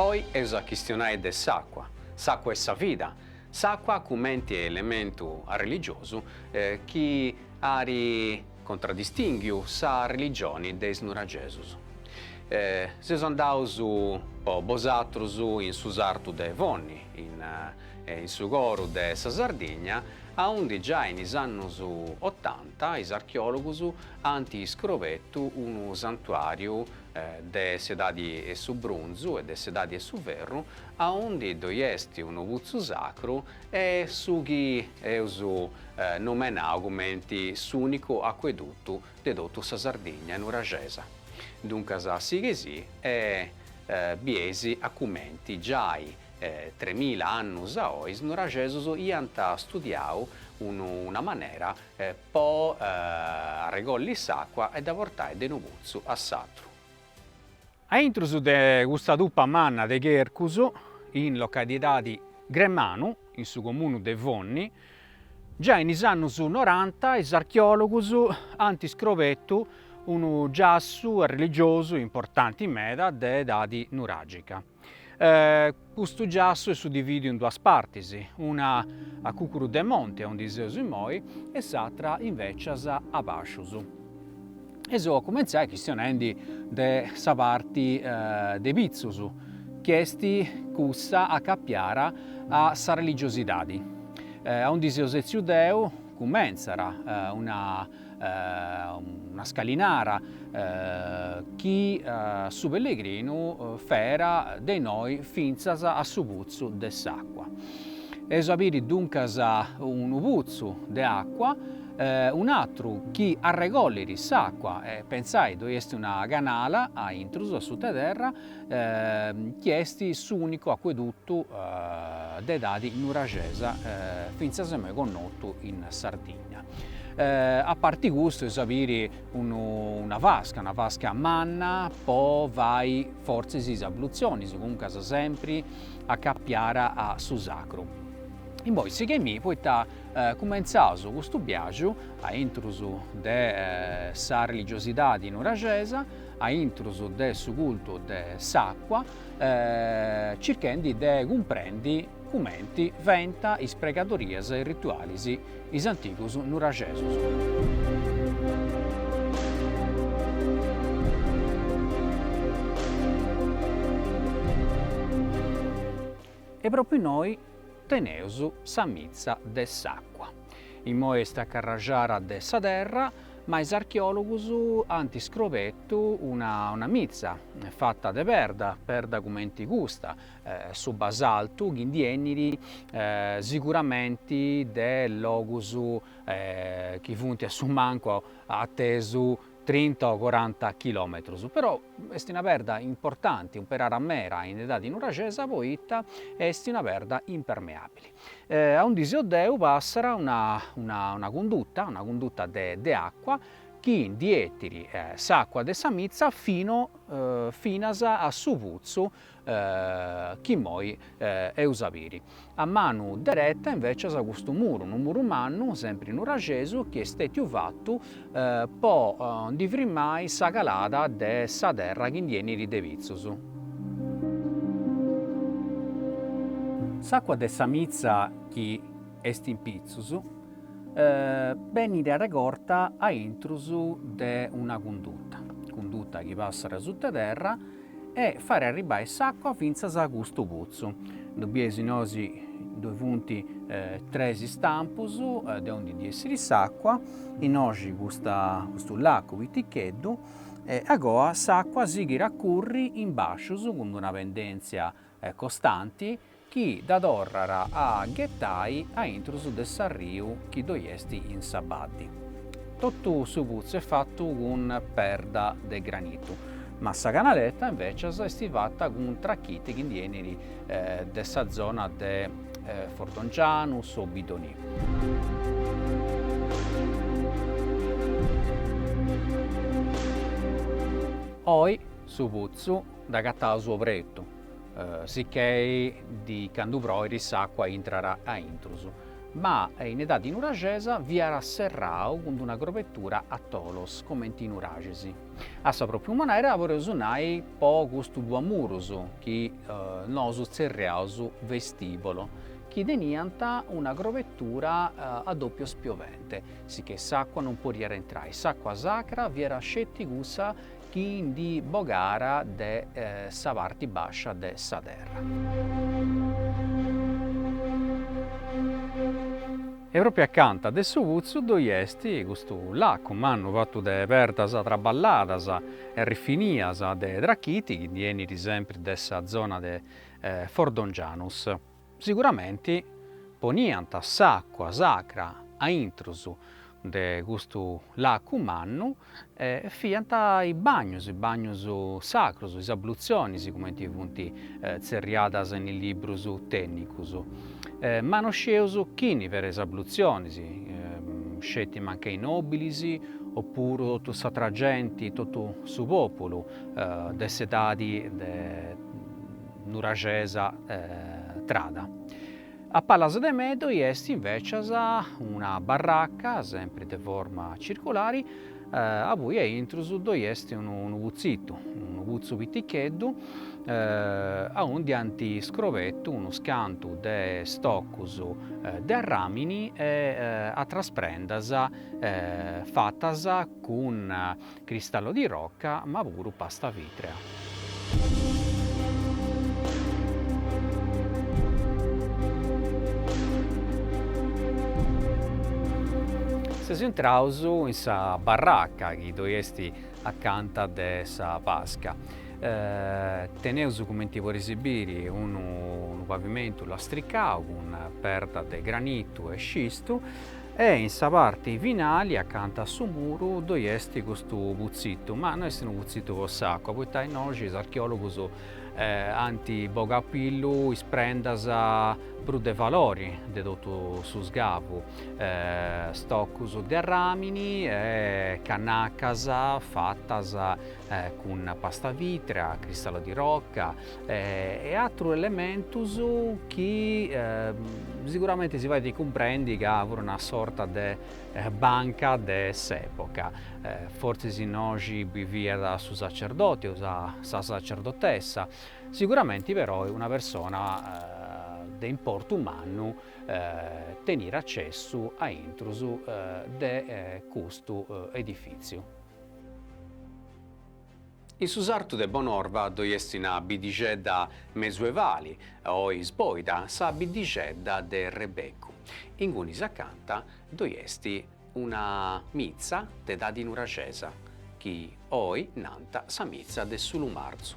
Oi eus a chistionai de s'àcua, s'àcua est sa vida, s'àcua cumenti elementu arreligiosu chi at contraddistìnghiu sa religioni de is nuragesus. Seus andaus po bosatrus in su sartu de Fonni, in in su coru de sa Sardigna, aundi giai in is annus otanta is archeòlogus ant iscrobetu unu santuàriu de s'edadi 'e su brunzu e de s'edadi 'e su ferru, aundi ddoi est unu putzu sacru e su chi eus nomenau cumenti s'ùnicu acuedutu de totu sa Sardigna nuraxesa. Duncas sighei-sì e bieis a cumenti giai tremila annus a oi is nuraxesus iant studiau unu una manera po arregolli s'àcua e dda portai de unu putzu a s'atru. Aintrus de custa tupa manna de chercus, in localidadi Gremanu, in su comunu de Fonni, giai in is annus noranta is archeòlogus ant scrobetu unu giassu arreligiosu importanti meda de edadi nuràgica. Custu giassu est suddivìdiu in duas partis, una a cùcuru de monti, aundi seus immoi, e s'atra invècias a bàscius. Eus a cumentzai chistionendi de sa parti de pitzus, chi est cussa acapiara a sa religiosidadi. Aundi seu setziu deu cumentzara una una scalinara chi su pellegrinu fera de innoi fintzas a su putzu de s'acqua. Eus a biri duncas unu putzu de acqua, un'atru chi arregollit s'acqua, e pensai ddoi est una canala a intrus a suta 'e terra chi est s'unicu acqueduttu de edadi nuraxesa fintzas a immoi connotu in Sardigna. A parte custu eus a biri unu una vasca, una vasca manna po fai fortzis is abluzionis, comuncas sempri acapiara a su sacru. Immoi sighei-mì poita cumentzaus custu biaju a intrus de sa religiosidadi nuraxesa, a intrus de su cultu de s'acua, circhendi de cumprendi cumenti fent is pregadorias e is ritualis is antigus nuraxesus. E propriu innoi teneus sa mitza de s'acua. Imoi est acarraxara de sa terra, ma is archeologus ant scrobetu una mitza fata de perda, perda cumenti custa, su basaltu chi ndi enit siguramenti de logus chi funt a su mancu atesu trinta o coranta chilometrus, però est una perda importanti, umperara mera in edadi nuraxesa poita est una perda impermeabili. A undi seu deu passat una cunduta, una cunduta de acua chi ndi 'etit s'acua de sa mitza fino finas a su putzu chi immoi eus a biri. A manu dereta invècias custu muru, unu muru mannu, sempri nuraxesu, chi est stètiu fatu po ndi frimmai sa calada de sa terra chi ndi 'enit de pitzus. S'àcua de sa mitza chi est in pitzus benit arregorta a intrus de una cunduta, cunduta chi passat sutta terra, e fairi arribbai s'acqua fintzas a custu putzu. Ddu bieis nosi ddoi funt tres istampus de ondi ndi 'essiri s'acqua, innoxi custu lacu piticheddu e agoa s'acqua sighir a curri in bascius cun d'una pendentzia costanti, chi dda torrat a ghetai a intrus de s'arriu chi ddoi est in sa baddi. Totu su putzu est fatu cun perda de granitu, ma sa canaleta invècias est fata cun trachiti chi ndi 'enit de sa zona de Fordongianus o Bidonì. Oi su putzu dd'agataus opretu. Sicchei candu proiri s'acqua intrat a intrus. Ma in edadi nuraxesa fiat serrau cun d'una grobetura a tolos, comenti is nuraxis. A sa propriu manera podeus nai po custus duus murus chi nosu tzerriaus vestibolo, chi teniant una grobetura a doppio spiovente, sicchei s'acqua non podiat intrai, s'acqua sacra fiat sceti cussa chi ndi bogara de sa parti bàscia de sa terra. E pròpriu acanta de su putzu ddoi est custu lacu mannu fatu de perdas traballadas e rifinias de trachiti chi ndi 'enit sempri de sa zona de Fordongianus. Siguramenti poniant s'àcua sacra a intrus de custu lacu mannu e fiant is bagnus, is bagnus sacrus, is ablutzionis cumenti funt tzerriadas in is librus tènnicus. Ma no scieus chini fiera is ablutzionis, sceti mancai i nòbilis o puru totu s'atra genti, totu su pòpulu de s'edadi Nuraxesa trada. A palas de mei ddoi est invècias una barraca, sempri de forma circulari, abui a intrus ddoi est unu putzitu, unu putzu piticheddu, aundi ant scrobetu unus cantu de stocus de arràmini e atras prendas fatas cun Cristallo di rocca ma puru pasta vitrea. Seus intraus in sa barraca chi ddoi est acanta de sa basca. Teneus cumenti podeis biri unu pavimentu lastricau cun perda de granitu e scistu E in sa parti finali, acanta a su muru, ddoi est custu putzitu, ma no est unu putzitu po s'àcua, poita innoxi is archeòlogus ant bogau a pillu is prendas prus de valori de totu su sgavu, stocus de arràmini e cannacas fatas cun pasta vìtrea, cristallo di rocca e atrus elementus chi siguramenti si faint cumprendi ca fut una sorta de banca de s'epoca, fortzis innoxi biviat su sacerdoti o sa sa sacerdotessa, siguramenti perou una persona de importu mannu teniat acessu a intrus de custu edifìtziu. In su sartu de Bonorva ddoi est una biddixedda mesuevali, oi isbòida sa biddixedda de Rebeccu. Ingunis acanta ddoi est una mitza de edadi nuraxesa, chi oi nant sa mitza de su Lumarzu.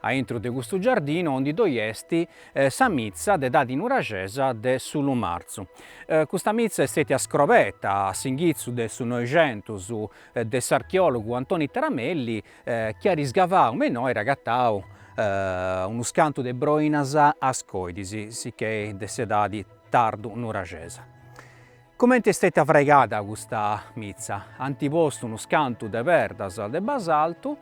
A intro de custu giardinu ondi ddoi est sa mitza de edadi nuraxesa de su Lumarzu. Custa mitza est stètia scrobeta a s'inghitzu de su Noixentus de s'archeòlogu Antoni Taramelli chi at isgavau me innoi at agatau unus cantu de broinas, ascòidis, sicchè de s'edadi tardu-nuraxesa. Comente est stètia fragada custa mitza, ant postu unus cantu de perdas de basaltu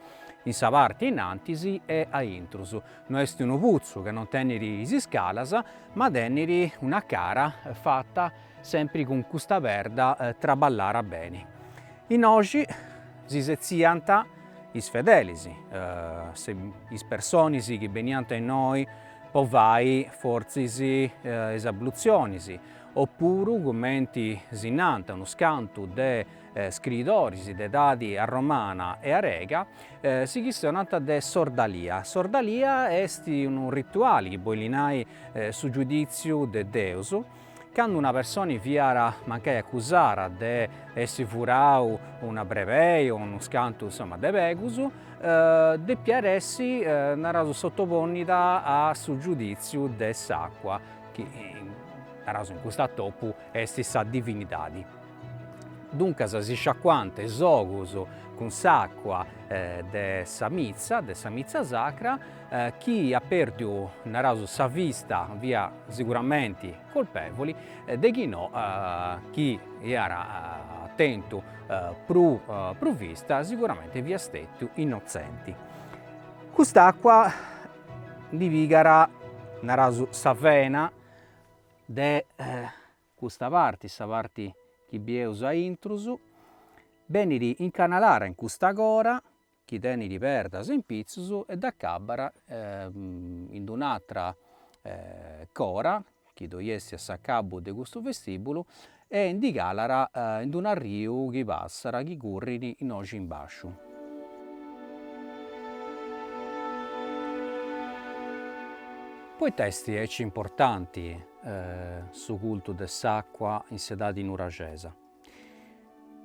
in sa parte in antis e a intrus. No est unu putzu ca non tenit is iscalas, ma tenit una cara fata sempri cun custa perda traballada beni. Innoxi si setziant is fedelis, is personis chi beniant innoi po fai fortzis is ablutzionis, Opuru, cumenti si nant unus cantu de scriidoris de edadi arromana e arega, si chistionant de s'ordalia. S'ordalia est unu rituali chi bolit nai su giudìtziu de Deus, candu una personi fiat mancai acusara de essi furau una brebei o unus cantu insoma de pegus, depiat essi, naraus, sottoponida a su giudìtziu de s'acua, chi naraus in cust'atopu est sa divinidadi, duncas si sciacuant is ogus cun s'àcua de sa mitza, de sa mitza sacra, chi at perdiu, naraus, sa vista, fiat siguramenti colpevoli, de chi no chi iat tentu prus vista siguramenti fiat stetiu innotzenti. Cust'àcua Ndi pigara, naraus, sa vena de custa parti, sa parti chi bieus a intrus, benit incanalara in custa cora chi tenit perdas in pitzus e dd'acabbara in d'un'atra cora chi ddoi est a s'acabu de custu vestìbulu, e ndi calara in unu arriu chi passat, chi currit innoxi in bàsciu. Poita est aici importanti su cultu de s'àcua in s'edadi nuraxesa?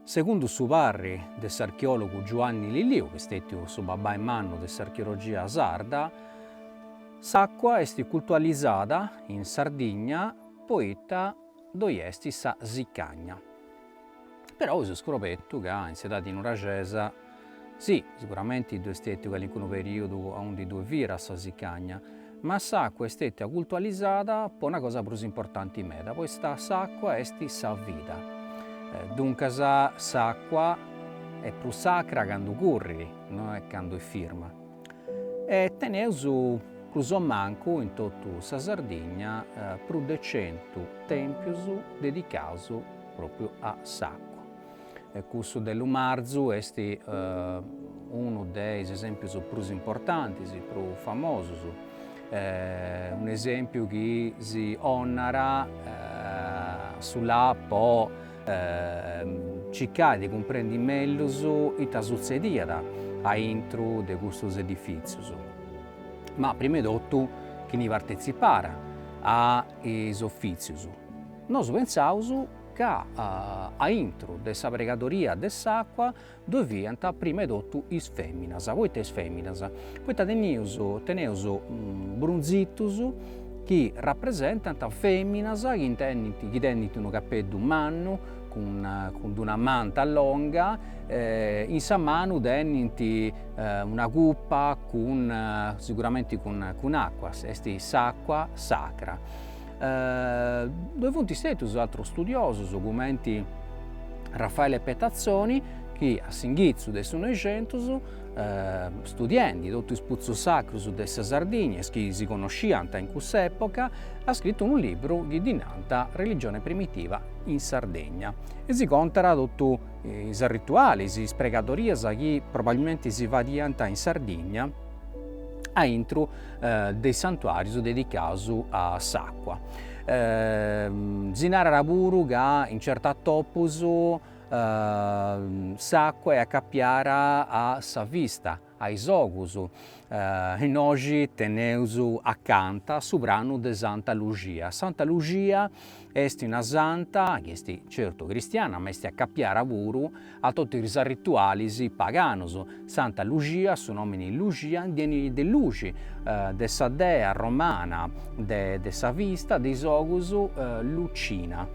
Segundu su parri de s'archeòlogu Giuanni Lilliu, chi est stètiu su babbai mannu de s'archeologia sarda, s'àcua est cultualizada in Sardigna poita ddoi est sa sicagna. Però eus scobertu ca in s'edadi nuraxesa Sì, siguramenti ddu'est stètiu calincunu perìodu aundi ddue fiat sa sicagna, ma s'àcua est stètia cultualizada po una cosa prus importanti meda, poita s'àcua est sa vida. Duncas, s'àcua est prus sacra candu currit, no est candu est firma. E teneus prus o mancu in totu sa Sardigna prus de centu tèmpius dedicaus pròpriu a s'àcua. Cussu de Lumarzu est unu de is esèmpius prus importantis, prus famosus, un'esèmpiu chi si 'onat su la po circai de cumprendi mellus ita sutzediat aintru de custus edifìtzius. Ma prima 'e totu chini partetzipàt a is ofìtzius nosu pentzaus ca a intro de sa pregadoria de s'acua ddoe fiant prima 'e totu is feminas, poita is feminas? Poita tenius teneus brunzitus chi rapresentant feminas chi tenint unu capeddu mannu cun cun d'una manta longa e in sa manu tenint una cupa cun siguramenti cun cun acua, est s'acua sacra Ddoe funt istetus atrus studiosus cumenti Raffaele Pettazzoni chi a s'inghitzu de su Noixentus, studiendi totu is putzus sacrus de sa Sardigna, is chi si connosciant in cussa epoca, at scritu unu libru chi ddi nant Religione primitiva in Sardegna e si contat totu is arritualis, is pregadorias chi probabilmenti si fadiant in Sardigna aintru de is santuàrius dedicaus a s'àcua. Si narat puru ca in certu atopus s'àcua est acapiara a sa vista, a is ogus, innoxi teneus acanta su pranu de Santa Luxia. Santa Luxia Est una santa chi est certu cristiana ma est acapiara puru a totu is arritualis paganus. Santa Luxia, su nomini Luxia ndi 'enit de luxi, de sa dea romana de sa vista, de is ogus, Lucina.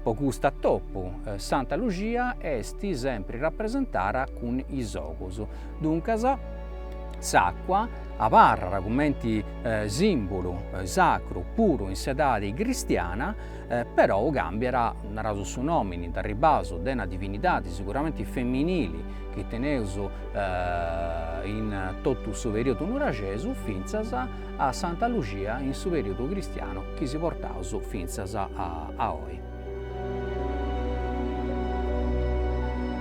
Po custu atopu Santa Luxia est sempri rapresentara cun is ogus. Duncas s'acua Abarrat cumenti sìmbulu sacru puru in s'edadi cristiana, perou càmbiat, naraus su nòmini, ndi arribaus, de una divinidadi siguramenti feminili chi teneus in totu su perìodu nuraxesu fintzas a Santa Luxia in su perìodu cristianu chi si portaus fintzas a oi.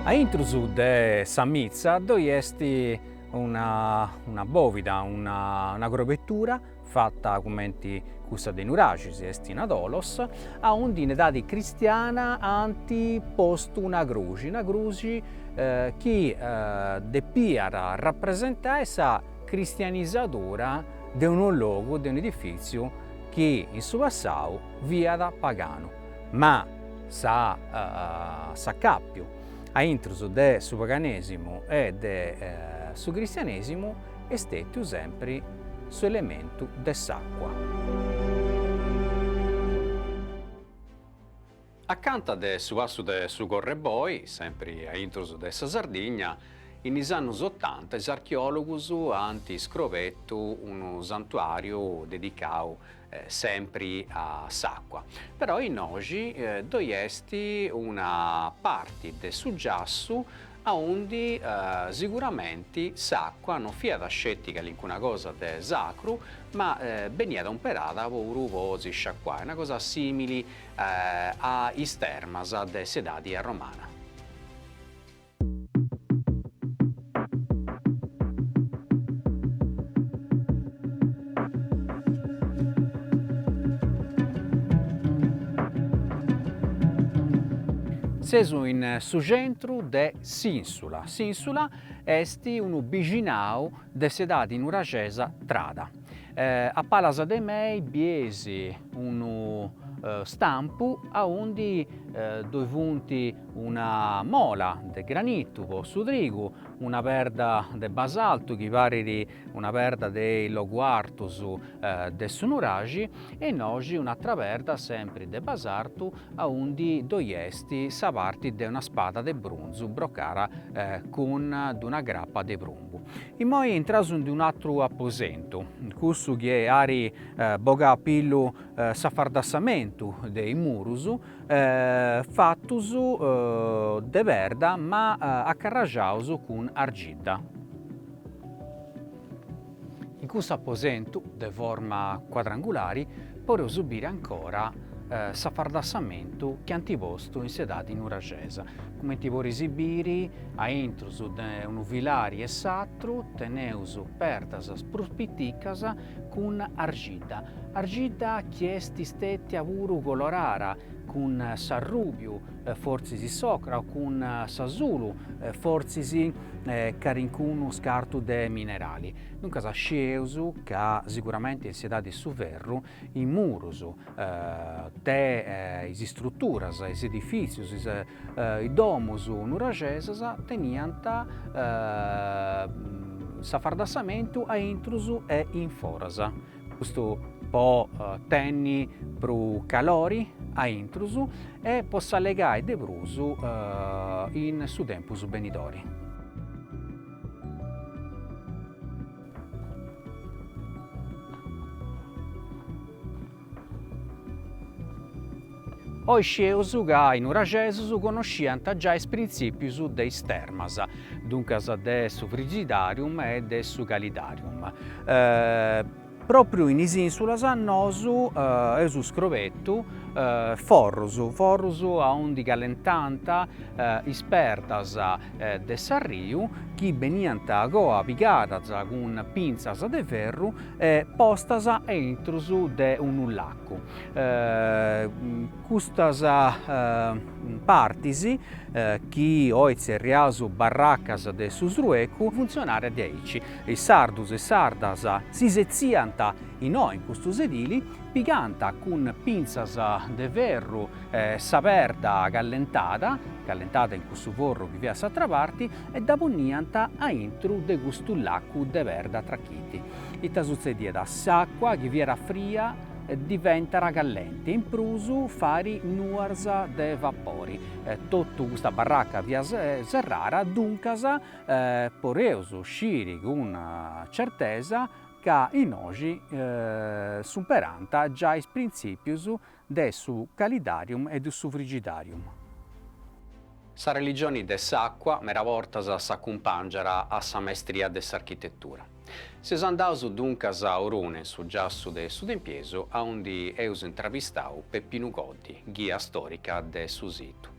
Aintrus de sa mitza ddoi est una bòvida, una grobetura fata cumenti cussa de Nuraxis, est in Adòlos, aundi in edadi cristiana ant postu una cruxi, una cruxi chi depiat rapresentai sa cristianisadura de unu logu, de un'edifìtziu chi in su passau fiat paganu. Ma s'acàpiu a intrus de su paganesimu e de su cristianesimu est stetiu sempri su elementu de s'acua. Accanta de su passu de su Correboi, sempri a intrus de sa Sardigna, in is annus otanta is archeologus ant scrobetu unu santuariu dedicau sempri a s'acqua, però innoxi ddoi est una parti de su giassu aundi siguramenti s'acqua non fiat sceti calincuna cosa de sacru ma beniat umperada puru po si sciacuai, una cosa simili a is termas de s'edadi romana. Sesu in su centru de s'ìnsula. S'ìnsula est unu bixinau de s'edadi nuraxesa trada. A palas de mei bies unu stampu aundi ddoi funt una mola de granitu po su trigu, una perda de basaltu chi parit una perda de is logus artus de su nuraxi e innoxi un'atra perda sempri de basartu aundi ddoi est sa parti de una spada de brunzu brocada cun d'una grapa de prumbu. Immoi intraus in d'un'atru aposentu, cussu chi ari bogau a pillu s'afardassamentu de is murus, fatus de perda ma acarraxaus cun argidda. In cussu aposentu de forma cuadrangulari podeus biri ancora s'afardassamentu chi ant postu in s'edadi nuraxesa, cumenti podis biri a intrus de unu filari e s'atru teneus perdas prus piticas cun argidda, argidda chi est istetia puru colorara cun s'arrùbiu, fortzis s'ocra o cun s'asulu, fortzis calincunu scartu de minerali. Duncas scieus ca siguramenti in s'edadi de su ferru is murus de is istruturas, is edifìtzius, is Is domus nuraxesas teniant s'afardassamentu a intrus e in foras, custu po tenni prus calori a intrus e po s'allogai de prus in su tempus benidori. Oi scieus ca is nuraxesus conosciant giai is printzìpius de is termas, duncas de su Frigidarium e de su Calidarium. Pròpriu in is Ìnsulas nosu eus scrobetu forrus, forrus aundi calentant is perdas de s'arriu chi beniant a coa pigadas cun pintzas de ferru postas a intrus de unu lacu. Custas partis, chi oi tzerriaus barracas de su sruecu, funtzionànt diaici, is sardus e is sardas si setziant innoi in custu sedili, pigànt cun pintzas de ferru sa perda callentada, callentada in cussu forru chi fiat a s'atra parti, e dda poniant a intru de custu lacu de perda trachiti. Ita sutzediat? S'àcua chi fiat fria diventat callenti e in prus fait nuas de vapori. Totu custa barraca fiat serrara, duncas podeus sciri cun certesa ca innoxi s'umperant giai is printzìpius De su calidarium e de su frigidarium. Sa religioni de s'acua mera bortas s'acumpàngiara a sa maestria de s'architetura. Seus andaus duncas a Orune, su giassu de su Tempiesu, aundi eus intravistau Peppinu Goddi, ghia stòrica de su situ.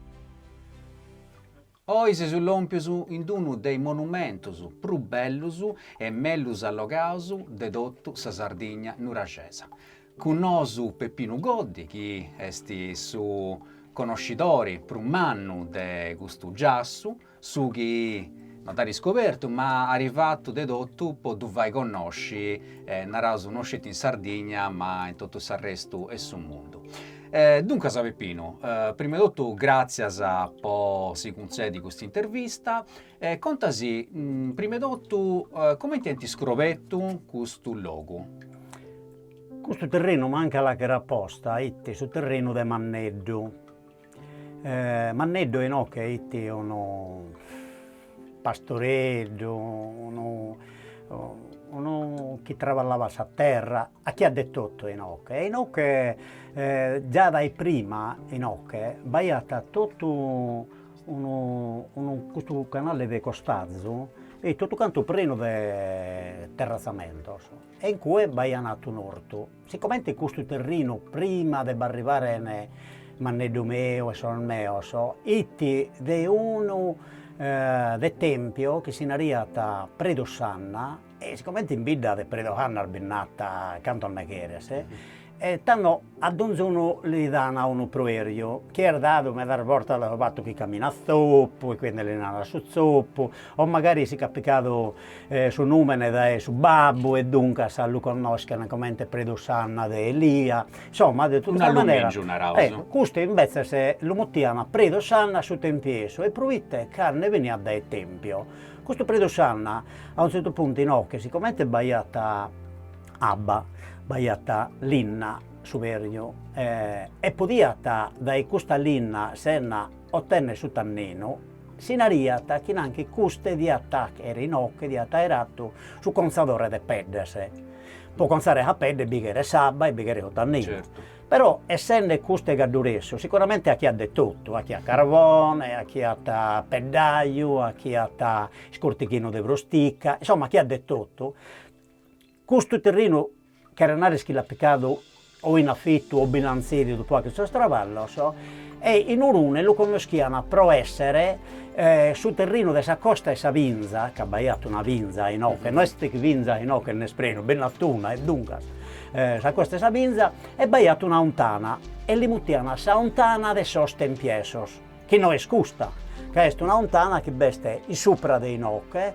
Oi seus lòmpios in d-unu de is monumentus prus bellus e mellus allogaus de totu sa Sardigna nuraxesa. Cun nosu Peppinu Goddi, chi est su conoscidori prus mannu de custu giassu, su chi no dd'at iscobertu ma at fatu de totu po ddu fai connosci, naraus no sceti in Sardigna ma in totu s'arrestu 'e su mundu. E duncas Peppinu, prima 'e totu gràtzias po si cuntzedi custa intervista e contasì prima 'e totu comenti ant iscrobetu custu logu. Custu terrenu mancu a l'àcher aposta 'it su terrenu de Manneddu, Manneddu 'e inoche 'it unu pastoreddu, unu unu chi traballabat sa terra, achiat de totu e inoche, e inoche già dae prima inoche b'aiat totu unu unu custu canale de costazu e totu cantu prenu de terrazzamentos e in cue b'aian atu un'ortu Sicomente custu terrinu prima de b'arribaren Manneddu meu e sos meos it de unu de Tempio chi si naraiat Predu Sanna e sicomente in bidda de Predu Sannas bi n'at cantos ne cheres e tando a donzunu li dan unu proerju chi est dadu medas bortas dai su fattu chi caminat zoppu e quindi li naran su zoppu o magari si ch'at picadu Su nùmene dae su babbu e duncas lu connoschent comente Predu Sanna de Elia. Insomma, de totu sa manera, custu imbetzes lu mutiant Predu Sanna su tempiesu e proite ca nde beniat dae Tempio. Custu Predu Sanna a unu tzertu puntu inoche, sicomente b'aiat abba, b'aiat linna, suberju e podiat dae custa linna si nde otènnere su tanninu, Si naraiat chi nanchi custe diat àchere inoche diat àere atu su contzadore de peddes, pro contzare sa pedde bi cheret s'abba e bi cheret su tanninu, però essende custe cadduresu sicuramente achiat de totu, achiat carbone, achiat peddaju, achiat iscortighinu de prustica, insomma achiat de totu Custu terrinu cheret narrer chi l'at picadu o in afittu o bi l'an tzèdidu pro àchere sos traballos e in Urune lu connoschian pro esser su terrinu de sa costa 'e sa Binza, ca b'aiat una binza inoche, no est chi binza inoche nd'est prenu, bi nd'at una e duncas sa costa 'e sa Binza e b'aiat una 'ontana e li mutian sa 'ontana de sos Tempiesos, chi no est custa, ca est una 'ontana chi b'est in supra de inoche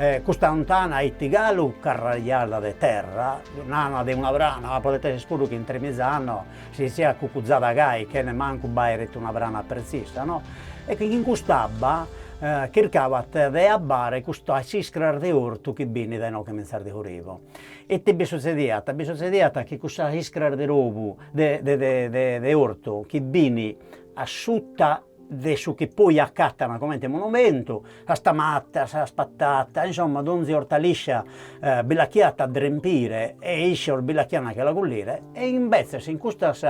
E custa 'ontana iti galu carrajada de terra, nana de una brana, podet esser puru chi in tremiza annos si siat cucuzada gai chene mancu b'airet una brana pretzisa no, e chin cust'abba chircabat de abbare custas iscras de ortu chi b'in dae inoche 'intzas a su rivu, ite bi suzzediat, bi suzzediat chi cussas iscras de robu de de de ortu chi b'in a sutta de su chi poi acatana comente monumentu, sas tamatas, sas patatas, insomma donzi ortaliscia bi l'achiat a drempire e iscios bi l'achian a che la cullire e imbetzes in custas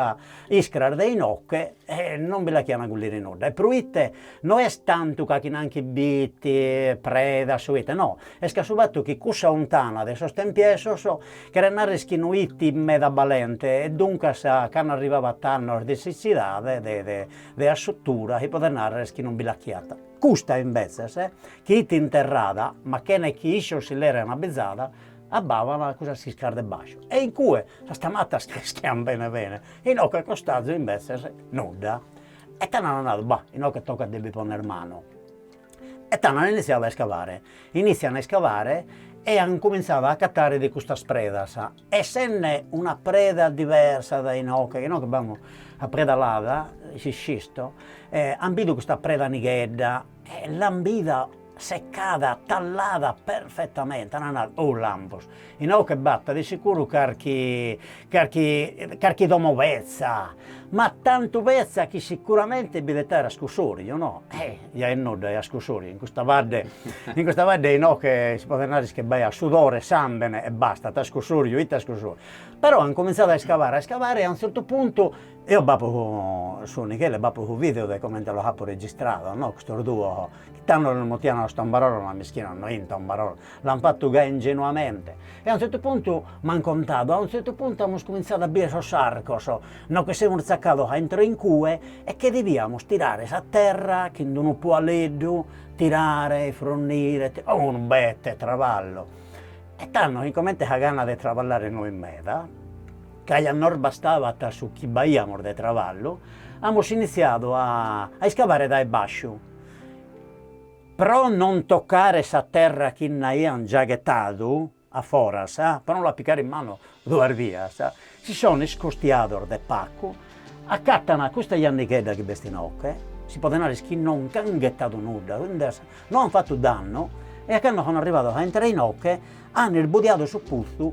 iscras de inoche non bi l'achian a cullire nudda e proite no est tantu ca chi nanchi b'iti predas o ite no, est ca su fattu chi cussa 'ontana de sos tempiesos cheret narrer chi no iti meda balente e duncas cando arrivabat annos de sitzidade de de assutura chi podet narrer chi non bi l'achiat. Custa imbetzes, chi it interrada, ma chena chi issos si l'erent abbizada, abbavan cussas iscras de basciu, e in cue sas tamatas creschian bene bene, inoche costazu imbetzes nudda. E tando an nadu, Bah, inoche tocat de bi ponner manu. E tando an initziadu a iscavare, initzian a iscavare e an cumintzadu a acatare de custas predas, Essende una preda diversa dae inoche, ca inoche b'amus sa preda lada, s'iscisto, e an bidu custa preda nighedda, e l'an bida seccada, tallada perfettamente, an nadu, oh lampos, inoche b'at de sicuru carchi carchi carchi domo betza, ma tantu betza chi sicuramente bi det aere ascusoriu, no Ja est nudda, ja ascusoriu, in custa badde, in custa badde inoche si podet narrer chi b'aiat sudore, sambene e basta, ite ascusoriu, ite ascusoriu. Però an comintzadu a iscavare, a iscavare e a unu zertu puntu, eo b'apo su Michele b'apo su video de comente los apo registrados no custos duos, chi tando los mutian sos tombarolos ma mischinos no 'int tombarolos L'an fatu gai ingenuamente e a un zertu puntu m'an contadu, a un zertu puntu amus cumintzadu a bier sos arcos, no che semus zacados a intro in cue e che deviamus tirare sa terra chin d'unu pualeddu, tirare, fronnire, ti, oh unu bete traballu e tando sicomente sa gana de traballare no it meda, ca ja nos bastabat su chi b'aiamus de traballu, amus initziadu a iscavare dae basciu Pro non tocare sa terra chi nd'aiant già ghetadu a foras, pro non la pigare in manu duas bias, si sono iscostiados de pacu, acatana custa jannighedda chi b'est inoche, si podet narrer chi non nch'an ghetadu nudda, no an fatu dannu, e a cando sono arrivados a intrare inoche, an isbudiadu su putzu,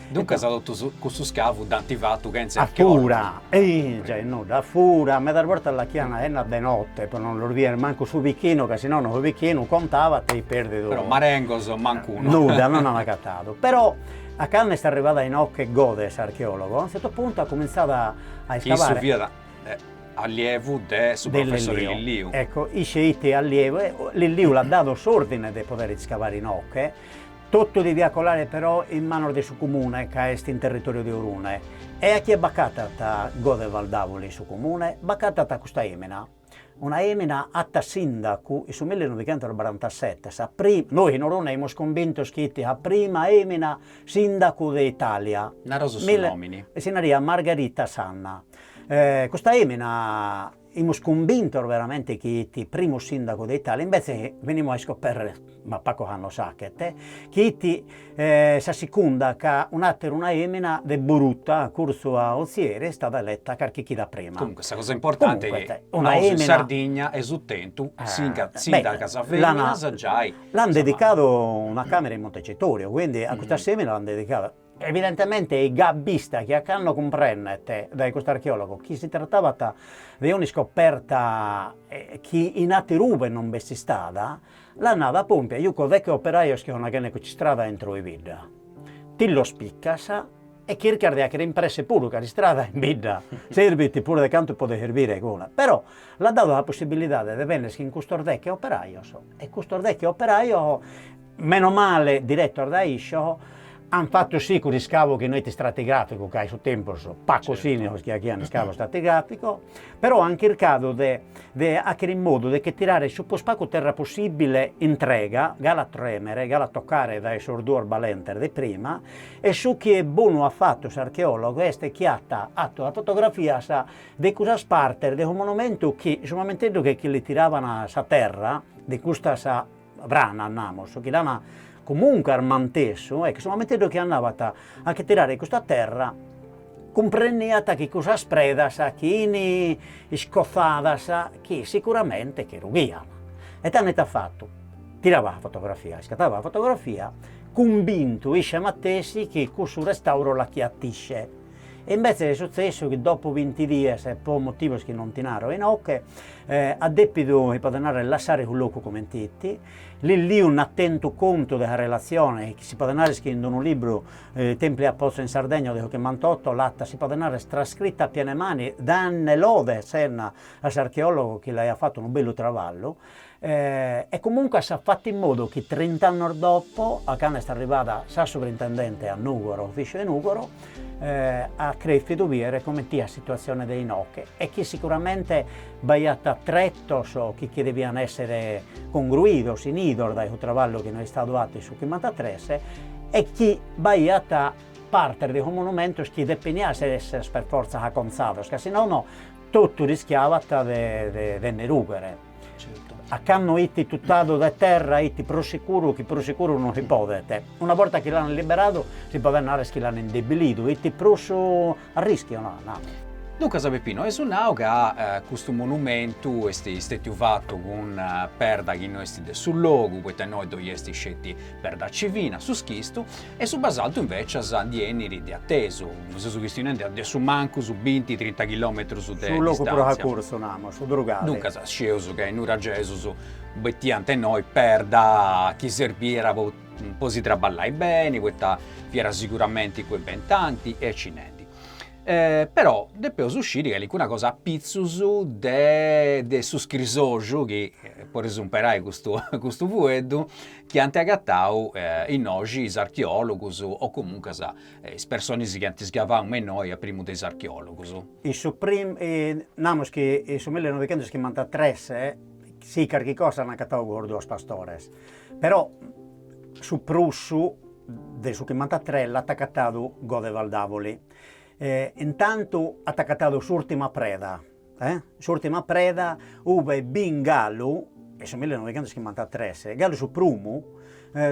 Duncas totu cussu iscavu dd'ant fatu chentza a che ortu. A fura, e già e nudda, a fura, medas bortas l'achiant aennat de notte, pro non los bider mancu su bichinu, ca si nono su bichinu contabat e perdidu. Però marengos mancunu. Nudda, non ant agatadu. Però a cando est arribada inoche Gode s'archeologu, a unu zertu puntu at cumintzadu a a iscavare. Issu fiat allievu de su professore Lilliu. Ecco, isse it allievu, Lilliu l'at dadu s'ordine de poder iscavare inoche, Totu deviat colare però in manos de su Cumune ca est in territoriu de Orune. E a chie b'acatat Godeval Davoli in su Cumune? B'acatat a custa emina. Una emina ata sindacu in su millinovichentosbarantasete, sa pri, nois in Orune aimus cumbintos chi it sa prima emina sindacu de Italia. Naros su nomini. Si nariat Margherita Sanna. Custa emina Imus cumbintos veramente chi it primu sindagu de Italia, imbetze venimus a iscoperrere, ma pacos annos achet, chi it sa sicunda ca un'ateru una emina de Boruta curtzu a Ozieri est stada eletta carchi chida prima. Comunque sa cosa importante chi nosu in Sardigna eus tentu sindagas feminas giai. L'an dedicadu una camera in Montecitorio, quindi a custas eminas l'an dedicada Evidentemente it gai abbista chi a cando cumprennet dae custu archeologu chi si tratabat de un'iscoperta chi in atteru ube non b'est istada, l'at nadu pompia juco deghe operajos chi sono achende custa istrada intro 'e bidda. Ti los picas e chircas de acher impresse puru ca s'istrada in bidda sirbit puru de cantu podet sirbire cuna. Però l'at dadu sa possibilidade de benner chin custos deghe operajos e custos deghe operajos Meno male diretos dae isce an fatu sì cuss'iscavu chi no est istratigràficu, ca in su tempus pacos ini sos chi aghian iscavu istratigràficu, però an chircadu de de àchere in modu de che tirare su prus pagu terra possìbile intrega, gala a trèmere, gala a tocare dae sos duos balentes de prima, e su chi est bonu at fatu s'archeòlogu est chi at fatu sas fotografias de cussas partes de su monumentu chi su mamenteddu che chi li tiraban sa terra de custa Frana, namus, chi l'ana comunque armantessu, e chi su momenteddhu chi andabant a che tirare custa terra, cumpreniant chi cussas predas chi ini iscozadas chi sicuramente che rughian, e tando it'at fattu, tiraba sa fotografia, iscataba sa fotografia, cumbintu isce matessi chi cussu restauro l'achiat isce. E imbetzes est sutzessu chi dopu binti dies, pro motivos chi non ti naro inoche, at depidu, si podet narrer, lassare su locu comente iti. Lilliu nd'at tentu contu de sa relatzione, chi si podet narrer chi in unu libru, Templi a Pozzo in Sardegna de su Chimbantotto, l'at, si podet narrer, trascrita a piene mani, dande lode a Senna, a s'archeologo chi l'aiat fatu unu bellu traballu, e comunque s'at fattu in modu chi trint'annos dopo a cando est arribada sa suprintendente a Nugoro, a ufficiu 'e Nugoro, at crescidu biere coment'it sa situatzione de inoche e chi sicuramente b'aiat tretos chi devian essere congruidos, inidos dae su traballu chi no est istadu fattu in su chimbanthatres e chi b'aiat partes de sos monumentos chi depenian essere per forza aconzados ca si nono Totu rischiabat de nde rughere. A candu iti tutadu de terra, iti prus sicuru chi prus sicuru no si podet. Una borta chi l'ant liberadu, si podet narrer chi l'ant indebilidu, iti prus a rischiu, no, namus. Duncas Peppino, eus nau ca custu monumentu est stetiu fatu cun perda chi no est de su logu, poita innoi ddoi est sceti perda civina, su schistu, E su basaltu invècias ndi 'enit de atesu, seus chistionendi a su mancu su binti trinta chilòmetrus de Su logu prus acurtzu, namus, su Durgali. Duncas, scieus ca is nuragesus bettiant innoi perda chi serbiat po po si traballai beni, poita fiat siguramenti cuibentanti e cinendi. Però depeus sciri calicuna cosa a pitzus de de su scrisoxu chi, po umperai custu custu fueddu, chi ant agatadu innoxi is archeòlogus o comuncas is personis chi ant isgavau me innoi a primu de is archeòlogus. In su namus chi in su millenovichentoschimbanthatrès si carchi cosa l'ant agatau sos duos pastores, però su prus de su chimbanthatrès l'ant agatadu Godeval Davoli e intantu at agatadu s'ùrtima preda E s'ùrtima preda, ube b'it galu, in su millenovichentoschimbanthatres, galu su prumu,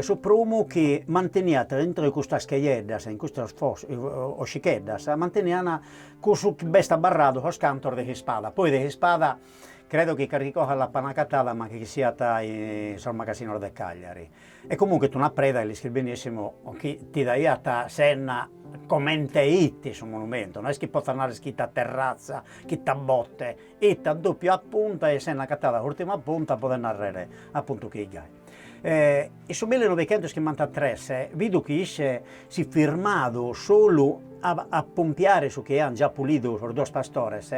su prumu chi manteniat aintro 'e custas cheieddas, in custas ossicheddas, manteniat cussu chi b'est abbarradu sos cantos de s'ispada, poi de s'ispada credo chi carchi cosa l'apan agatada ma chi siat in sos magasinos de Cagliari, E comunque it una preda chi l'isches benissimu chi ti daiat senna comente ite su monumentu, no est chi potzat narrer chi it a terrazza, chi it a botte, it a doppia punta e senne acattada s'urtima punta pro narrer appuntu ch'it gai. E in su millinovichentoschimbanthatres vidu chi isse s'it firmadu solu a a pompiare su chi ean già pulidu sos duos pastores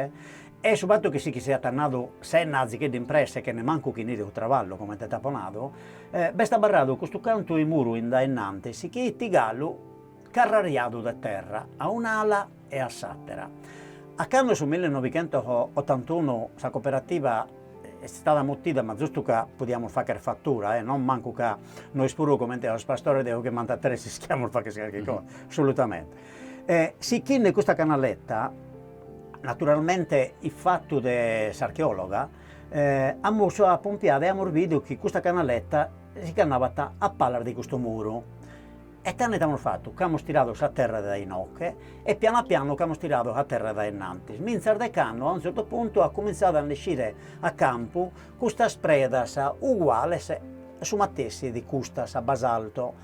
E su fatu chi si che siat annadu senne azicheddu in presse chene mancu ch'inire su traballu, comente t'apo nadu, b'est abarradu custu cantu 'e muru in dae innantis chi ite galu carrariadu de terra a un'ala e a s'àtera. A cando su millinovichentotantunu sa coperativa est istada mutida ma zustu ca podiamus fagher fatura e non mancu ca nois puru comente a sos pastores de su chimbantatres ischiamus fagher carchi cosa, assolutamente. Sichinne custa canaleta Naturalmente ifatu de s'archeòloga amus apompiadu e amus bidu chi custa canaleta si ch'annabat a palas de custu muru. E tando it'amus fatu ch'amus tiradu sa terra dae inoche e pianu pianu ch'amus tiradu sa terra dae innantis, mintzas de cando a unu tzertu puntu at cumintzadu a nd'essire a campu custas predas uguales a su matessi de custas a basalto,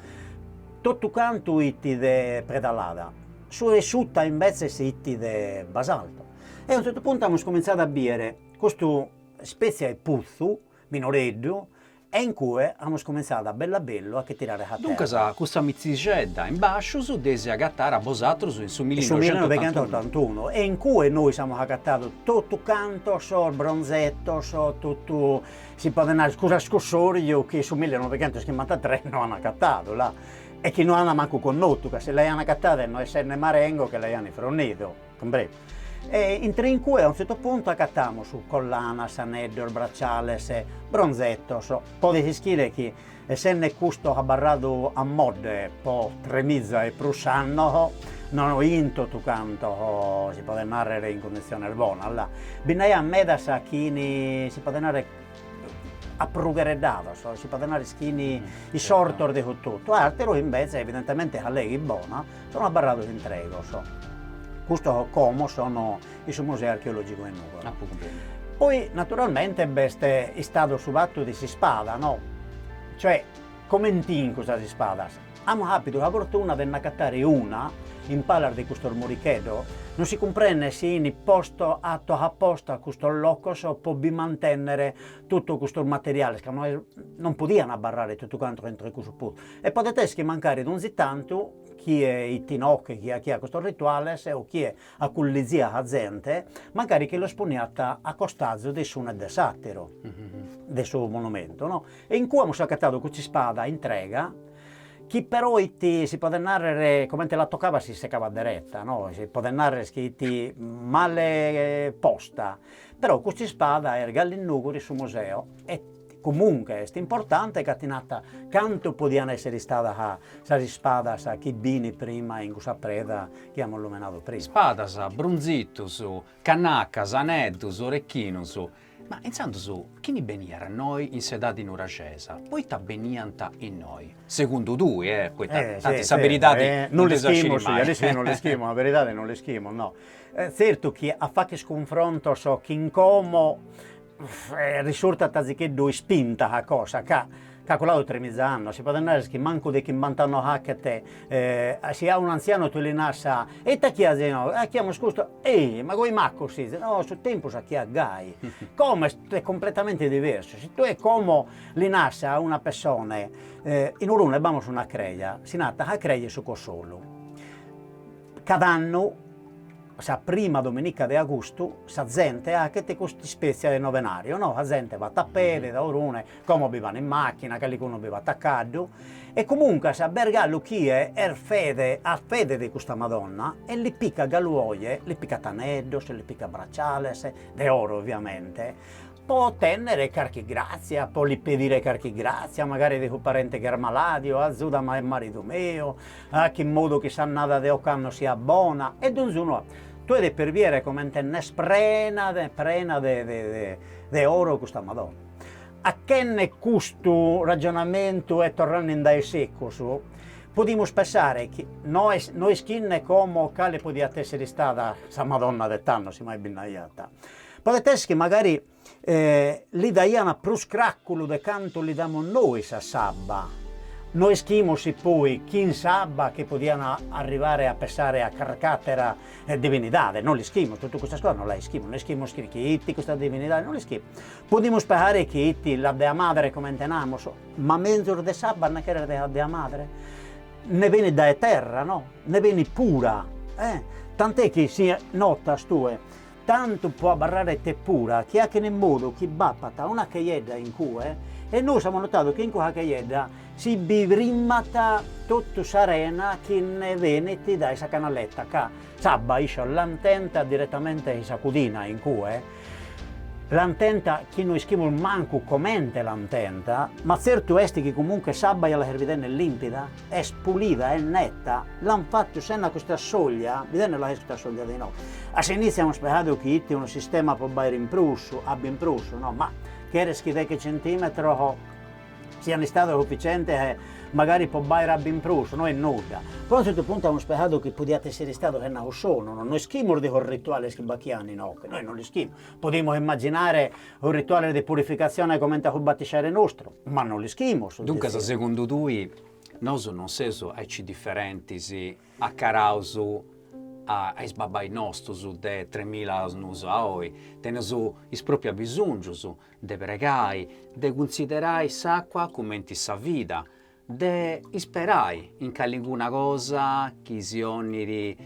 totu cantu ite de preda lada. Su 'e suta imbetzes ite de basalto e a unu zertu puntu amus comintzadu a bìdere custu ispètzia 'e putzu minoreddu e in cue amus comintzadu a bellu a bellu a che tirare sa terra. Duncas custa mitzixedda in bàsciu dd'eis agatada bosatrus in su millinoixentotantunu e in cue nois amus agatadu totu cantos sos bronzetos, totu si podet nàrrer cuss'ascusòriu chi in su millinoixentoschimbantatres no an agatadu là. e chi no ant mancu connotu ca si l'aiant agatada e no essende marengo che l'aiant frundidu, cumpresu? E in cue a un zertu puntu agatamus collanas, aneddos, braciales, bronzetos, podet ischire chi essende custu abarradu a modde po tremiza e prus annos, no in totu cantos si podet narrer in cunditziones bonas, la, bi nd'aiat medas chi in, si podet narrer aprughereddados, si podet nare chi ini isortos de su totu, atteros invece evidentemente a lega it bona sono abbarrados intregos, custos como sono in su Museo Archeologico 'e Nugoro. Poi naturalmente b'est istadu su fattu de s'ispada no, cioè coment'in custas ispadas Amus àpidu sa fortuna de nd'agatare una, in palas de custos moricheddos, non si cumprendet si in postu ato aposta custos locos pro bi mantènnere totu custos materiales, ca no non podiant abarrare totu cantos a intro 'e cussu putzu, e podet esser chi mancari donzi tantu chie iti inoche, chie achiat custos rituales o chie aculliziat a zente, mancari chi los poniat a costazu de s'unu e de s'ateru de su monumentu no, e in cue amus acatadu custa ispada intrega, chi però iti si podet narrer comente la tocabat si secabat dereta no, si podet narrer chi iti male posta, però custa ispada est galu in Nugoro in su museo e Comunque est importante ca ti nata cantu podian essere istadas sas ispadas chi b'ini prima in cussa preda chi amus lumenadu prima. Ispadas, brunzitus, cannacas, aneddus, orechinus. Ma intzandus chini beniat innoi in s'edadi nuraxesa? Poita beniant innoi? Segundu tui e, poita tanti sa beridadi non dd'eus a sciri mai. Essi non l'ischimus, a beridadi non l'ischimus no. Zertu chi a facher cunfrontos chin como Risurtat zicheddu ispinta a cosa ca caculadu tremiza annos, si podet narrer chi mancu de chimbant'annos achet, si a un'antzianu tue li naras sa, e ite chi azis nosu, ah chi amus custu, ehi, ma coe macos sezis, no su tempus achiat gai, como est completamente diversu, si tue como li naras a una pessone, in Urune b'amus una creja, si nata, a creja 'e su Cossolu. Cad'annu, sa prima dominica de agustu, sa zente achet custa ispètzia de novenàriu, no, sa zente bat a pede, dae Orune, como bi ban in màchina, callicunu bi bat a caddu, e comunque a b'est galu chie est fede at fede de custa Madonna e li picat galu oje, li picat aneddos, li picat braciales, de oro oviamente, Po otènnere carchi gràtzia, po li pedire carchi gràtzia, magari de su parente chi est malàdiu, azuda·mi a maridu meu, ache in modu chi s'annada de ocannu siat bona, e donzunu tu 'edes perbiere comente nd'est prena de prena de de de oro custa Madonna. Achenne custu ragionamentu e torrende in dae secus, podimus pensare chi nois no ischinne como cale podiat èssere istada sa Madonna de tando, si mai bi nd'aiat, Podet essi chi magari li daiant prus cràculu de cantu li damus nois a s'abba. No ischimus si poi chin s'abba chi podiant arribare a pessare a carc'àtera divinidade, no l'ischimus, totu custas cosas no las ischimus, no ischimus chi chie iti custa divinidade, no l'ischimus. Podimus pessare chi iti la dea madre comente namus, ma menzus de s'abba nde cheret de sa dea madre? Nde benit dae terra, no, nde benit pura. Tant'est chi si notas tue Tantu po abarraret pura chi achin in modu chi b'apat una cheiedda in cue e nois amus notadu chi in cua cheiedda si bi frimat totu s'arena chi nde benit dae sa canaletta ca s'abba issos l'an tenta diretamente in sa cudina in cue l'an tenta chi no ischimus mancu comente l'an tenta ma tzertu est chi comunque s'abba ja la ses bidende limpida. Est pulida, est neta, l'an fatu sena custa soglia, bi tenes la custa soglia de inoghe. A s'initziu amus pensadu chi it unu sistema po b'aere in prus, abba in prus, no, ma cheres chi deghe centimetros sian istados suficientes magari po b'aere abba in prus, no est nudda. Però a zertu puntu amus pensadu chi podiat essere istadu sena cussu sonu, no, no ischimus de sos rituales chi b'achian inoghe, nois no l'ischimus Podimus immaginare sos rituales de purificatzione comente a su batixeri nostru, ma non l'ischimus. Duncas segundu tui nosu non seus aici diferentis acaraus a is babbais nostus de tremila annus a oi? Teneus is propriu abisongius de pregai, de cunsiderai s'acua cumenti sa vida, de isperai in caliguna cosa chi si 'onit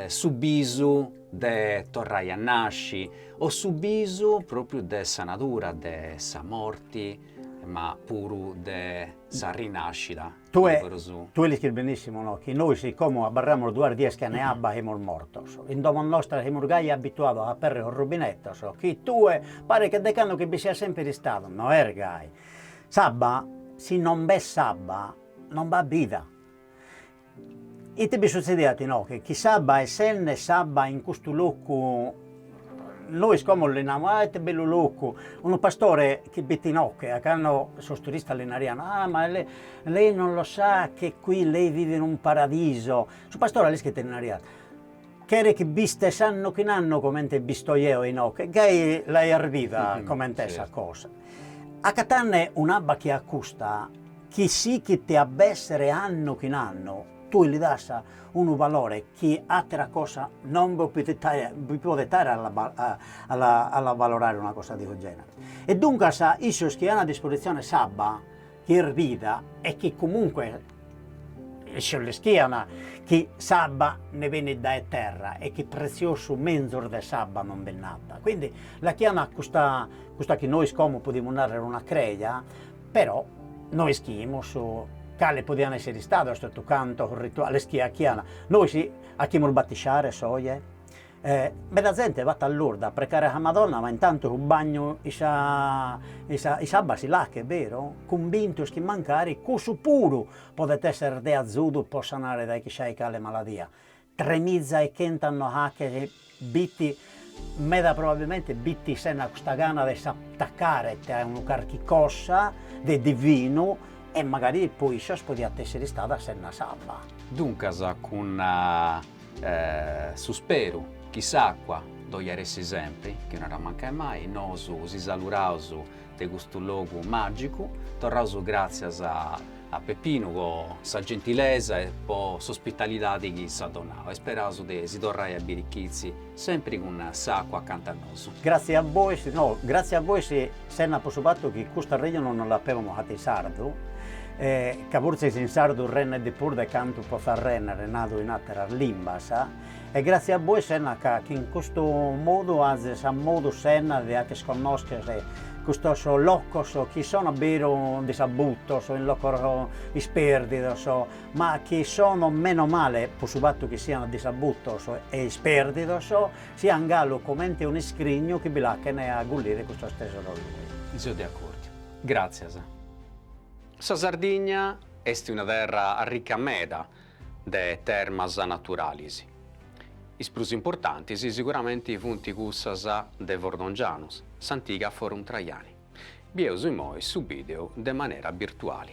su bisu de torrai a nasci o su bisu propriu de sa natura, de sa morti, ma puru de sa rinascida. Tue tue l'ischis benissimu no chi nois si como abarramus duas dies chene abba semus mortos, in domo nostra semus gai abituados a aperre sos rubinetos, chi tue paret che de cando chi bi siat semper istadu no est gai, S'abba si non b'est s'abba non b'at bida. Ite bi sutzediat inoghe chi s'abba essende s'abba in custu locu nois como li namus ah ite bellu locu, unu pastore chi b'it inoghe a cando sos turistas li naraian ah ma lei lei non lo sa che qui lei vive in un paradiso, su pastore a l'ischis ite li naraiat Cheret chi b'istes anno chin anno comente b'isto eo inoche, gai l'aias vida coment'est sa cosa. Acatanne un'abba che a custa chi sichit a b'essere anno chin anno, tue li das unu valore chi atera cosa non bi podet aer a l'avalorare una cosa de su genere. E duncas issos chi an a dispositzione s'abba, Chi est vida e chi comunque issos l'ischian chi s'abba nde benit dae terra e chi pretziosu menzus de s'abba non bi nd'at, quindi l'achian custa custa chi nois como podimus narrer una creja, però no ischimus cale podian esser istados totu cantos rituales chi achian, nois achimus batixares oje? E meda zente vat a Lurda a precare sa Madonna ma intantu su bagnu in sa in s'abba si l'achet, beru? cumbintos chi mancari cussu puru podet esser de azudu po sanare dae chissai cale maladia, tremiza e chent'annos achet b'it meda probabilmente b'it sena custa gana de s'attacare a unu carchi cosa de divinu e magari po issos podiat esser istada sena s'abba. Duncas cun Su speru chi s'àcua ddoi at a essi sempri, chi no at a mancai mai, nosu si saluraus de custu logu màgicu, torraus gràtzias a a Pepinu po sa gentilesa e po s'ospitalidadi chi s'at donau e isperaus de si torrai a biri chizi sempri cun s'àcua acanta a nosu. Gratzi a bois, no, gratzi a bois Sena po su fatu chi cust'arrejonu nos l'apemus fata in sardu, e ca fortzis in sardu rennet de prus de cantu potzat rènnere nadu in àteras limbas, e gràtzias a bois sena ca chi in custu modu azis a modu sena de acher connòschere custos locos chi sono a beru disabutos, in locos ispèrdidos, ma chi sono menos male po su fatu chi siant disabutos e ispèrdidos Sian galu comente unu iscrignu chi bi l'achen a agullire custos tesoros lui. So de accordu. Gràtzias. Sa Sardigna est una terra arrica meda de termas naturalis. Is prus importantis siguramenti funt cussas de Fordongianus, s'antiga Forum Traiani. Bieus imoi su bìdeu de manera birtuali.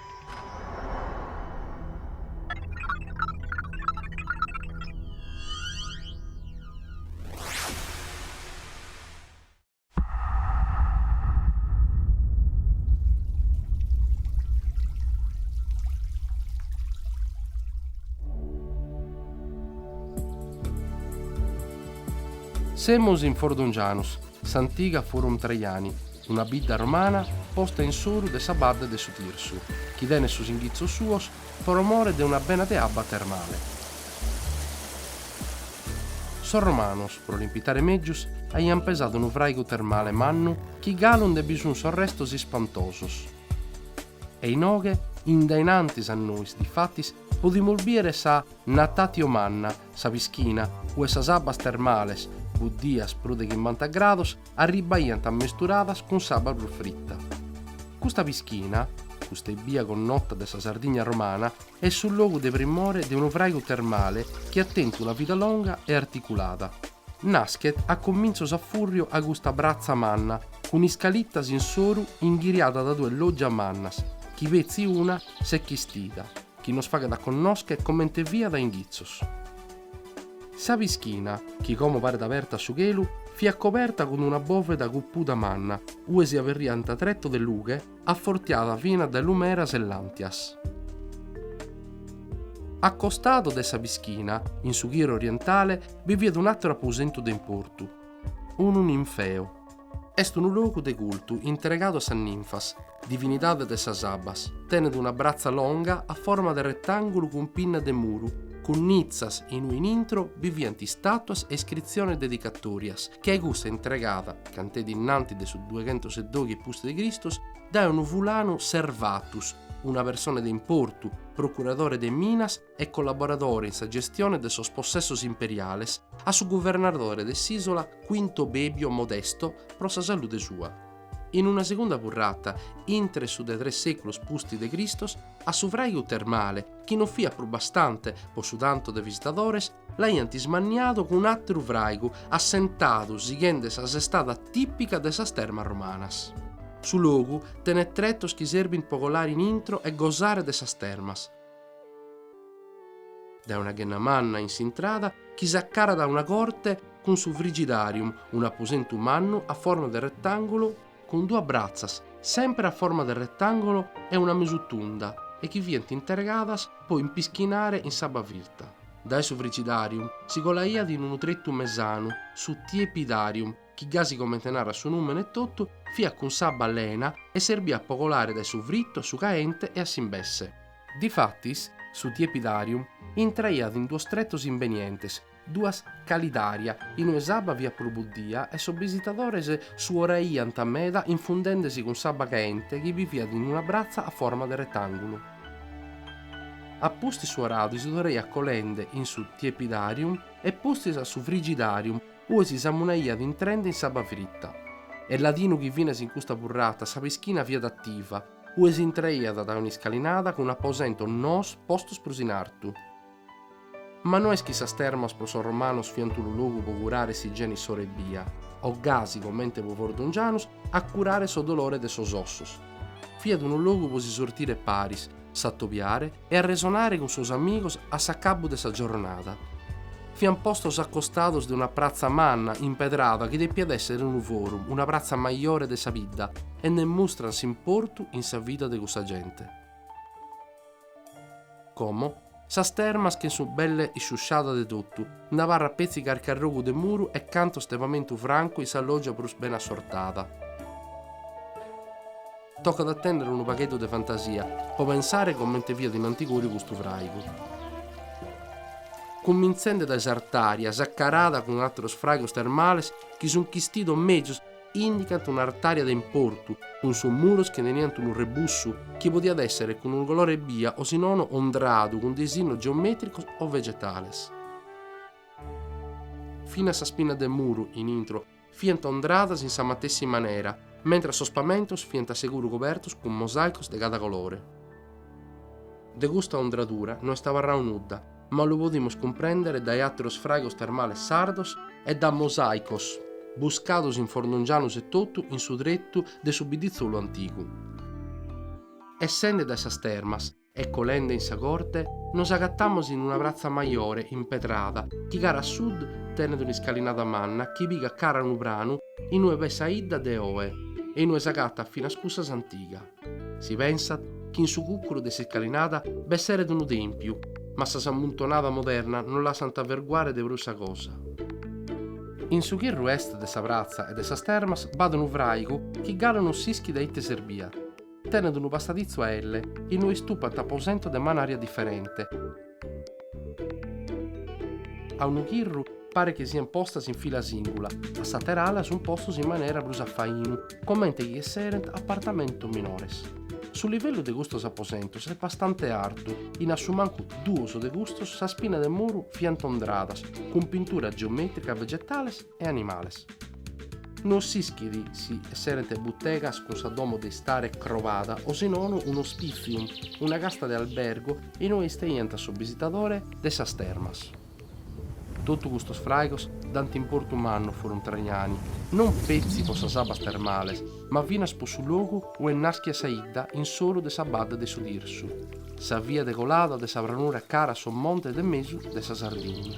Semus in Fordongianus, s'antiga Forum Traiani, Una bidda romana posta in s'oru de sa badde de su Tirsu, chi tenet sos inghitzos suos pro more de una bena de abba termale. Sos romanos, pro l'impitare mègius, aiant pesadu unu fràigu termale mannu chi galu nde bi sunt sos restos ispantosos. E inoghe, in dae in antis a nois, difatis, podimus bìdere sa Natatio Manna, Sa pischina, ue sas abbas termales, buddias prus de chimbanta grados, arribbaiant ammesturadas cun s'abba prus fritta. Custa pischina, custa ebbia connota de sa Sardigna romana, est su logu de primore de unu fràigu termale chi at tentu una vida longa e articulada. Naschet a comintzos a fùrriu a custa pratza manna cun iscalitas in s'oru inghiriada dae duas lògias mannas chi petzi una s'est chistida, chi nos faghet a connoscher comente fiat a inghitzos. Sa pischina, chi como paret aberta a su chelu, fiat coberta cun una bòveda cupuda manna, ue si aberiant tretos de lughe, afortiada fina dae lumeras e làntias. A costadu de sa pischina, in su chirru orientale, bi fiat un'àteru aposentu de importu, unu ninfeu. Est unu logu de cultu intregadu a sas ninfas, divinidades de sas abbas. Tenet una bratza longa a forma de retàngulu cun pinnas de muru, cun nitzas in ue in intro bi fiant istàtuas e iscritziones dedicatòrias, che custa intregada, cantet innantis de su dueghentosedoghi pustis de Cristos, dae unu fulanu Servatus, una persone de importu, procuradore de minas, e collaboradore in sa gestione de sos possessos imperiales, a su guvernadore de s'ìsola Quinto Bebio Modesto pro sa salude sua. In una segunda purrata, intro su de tres sèculos pustis de Cristos, a su fràigu termale, chi non fiat prus bastante pro su tantu de visitadores, l'aiant ismanniadu cun un'àteru fràigu assentadu sighende sa sestada tìpica de sas termas romanas. Su logu tenet tretos chi serbint pro colare in intro e gosare de sas termas. Dae una ghenna manna in s'intrada chi s'acarat a una corte cun su frigidarium, un'aposentu mannu a forma de retangulu cun duas bratzas sempre a forma de retangulu e una mesu tunda e chi fiant intergadas po impischinare in s'abba firta. Dae su frigidarium si colaiat in unu tretu mesanu su tiepidarium chi gasi comente narat su nùmene etotu, fiat cun s'abba lena e serbiat po colare dae su fritu a su caente e a s'imbesse. Difatis, su tiepidarium intraiat in duos tretos imbenientes, duas calidaria, in ue s'abba fiat prus buddia e sos bisitadores suoraiant meda infundende si cun s'abba caente chi bi fiat in una bratza a forma de retàngulu. A pustis suoradu si torraiat colende in su tiepidarium e pustis a su frigidarium Ue si samunaiat intrende in s'abba fritta. Est ladinu chi finas in custa purrata, sa pischina fiat attiva, ue si intraiat dae un'iscalinada cun aposentos noos postos prus in artu. Ma no est chi sas termas pro sos romanos fiant unu logu pro curare s'igiene issoro ebbia, o gasi comente pro Fordongianus, a curare sos dolores de sos ossos. Fiat unu logu pro si sortire paris, s'atobiare e arresonare cun sos amigos a s'acabbu de sa giornada. Fiant postos a costados de una pratza manna impedrada chi depiat èssere unu forum, una pratza majore de sa bidda e nde mustran s'importu in sa vida de cussa gente. Como Sas termas che sun belle isciusciadas de totu, nd'abarrat petzi carchi arrogu de muru e cantos de pamentu francu in sa loggia prus bene assortada. Tocat a tennere unu pagheddu de fantasia po pensare comente fiat in antigoriu custu fraigu. Cumminzende dae s'artaria, s'accarada cun atteros fraigos termales chi sun chistidos mezus Indicant un'artària de importu, cun sos muros chi teniant unu rebussu, chi podiat èssere cun unu colore ebbia o si nono ondradu cun disinnos geomètricos o vegetales. Finas sas pinnas de muru, in intro, fiant ondradas in sa matessi manera, mentras sos pamentos fiant seguru cobertos cun mosàicos de cada colore. De custa ondradura no est abarradu nudda, ma lu podimus cumprèndere dae àteros fràigos termales sardos e dae mosàicos buscados in Fordongianus etotu in su tretu de su bidditzolu antigu. Essende dae sas termas e colende in sa corte nos agatamos in una pratza majore impedrada chi cara a sud tenet un'iscalinada manna chi pigat cara a unu pranu in ue b'est sa 'idda de oe e in ue s'agatat finas cussas antiga. Si pensat chi in su cucuru de s'iscalinada b'esseret unu tèmpiu, ma sas ammuntonadas modernas non lassant averguare de prus sa cosa. In su chirru est de sa pratza e de sas termas b'at unu fràigu chi galu non s'ischit a ite serbiat, tenet unu passaditzu a elle, inue istupant aposentos de manària diferente, A unu chirru paret chi siant postas in fila sìngula, a s'ater'ala sunt postos in manera prus a fainu, comente chi esserent apartamentos minores. Su livellu de custos aposentos est bastante artu, in a su mancu duos de custos sas pinnas de muru fiant ondradas cun pinturas geomètricas vegetales, e animales. No s'ischit si esserent butegas cun sa domo de istare crobada o si nono un hospitium, una casta de albergu in ue isteiant sos bisitadores de sas termas. Totu custos fraigos dant importu mannu a Forum Traiani, non petzi pro sas abbas termales, ma finas pro su logu ue naschiat sa 'idda in s'oru de sa badde de su Tirsu, sa via de colada de sa pranura cara a sos montes de mesu de sa Sardigna.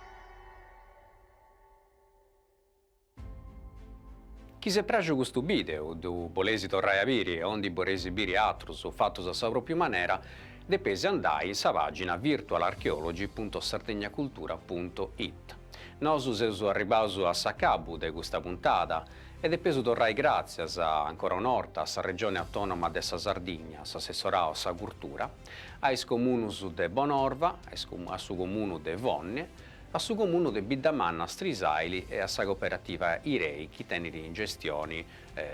Chi s'est praxu custu bideu, ddu bolesi torrai a biri, o ndi boresi biri atrus fatus a sa propriu manera, depesi andai in sa pagina virtualarcheology.sardegnacultura.it. Nosu seus arribaus a s'acabu de custa puntada e depeus torrai gratzias, ancora un'orta, a sa Regioni Autonoma de sa Sardigna, s'Assessorau a sa Curtura, a is comunus de Bonorva, a su comunu de Fonne, a su comunu de Biddamanna Strisàili e a sa coperativa Irei chi tenit in gestioni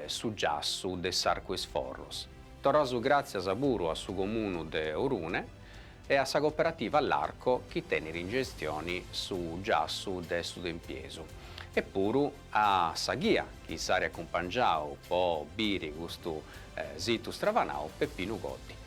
su giassu de s'Arcu 'e is Forros. Torraus gràtzias puru a su comunu de Orune e a sa coperativa L'Arco chi tenit in gestioni su giassu de su tempiesu e puru a sa ghia chi s'at acumpangiau po biri custu situ stravanau, Peppinu Goddi.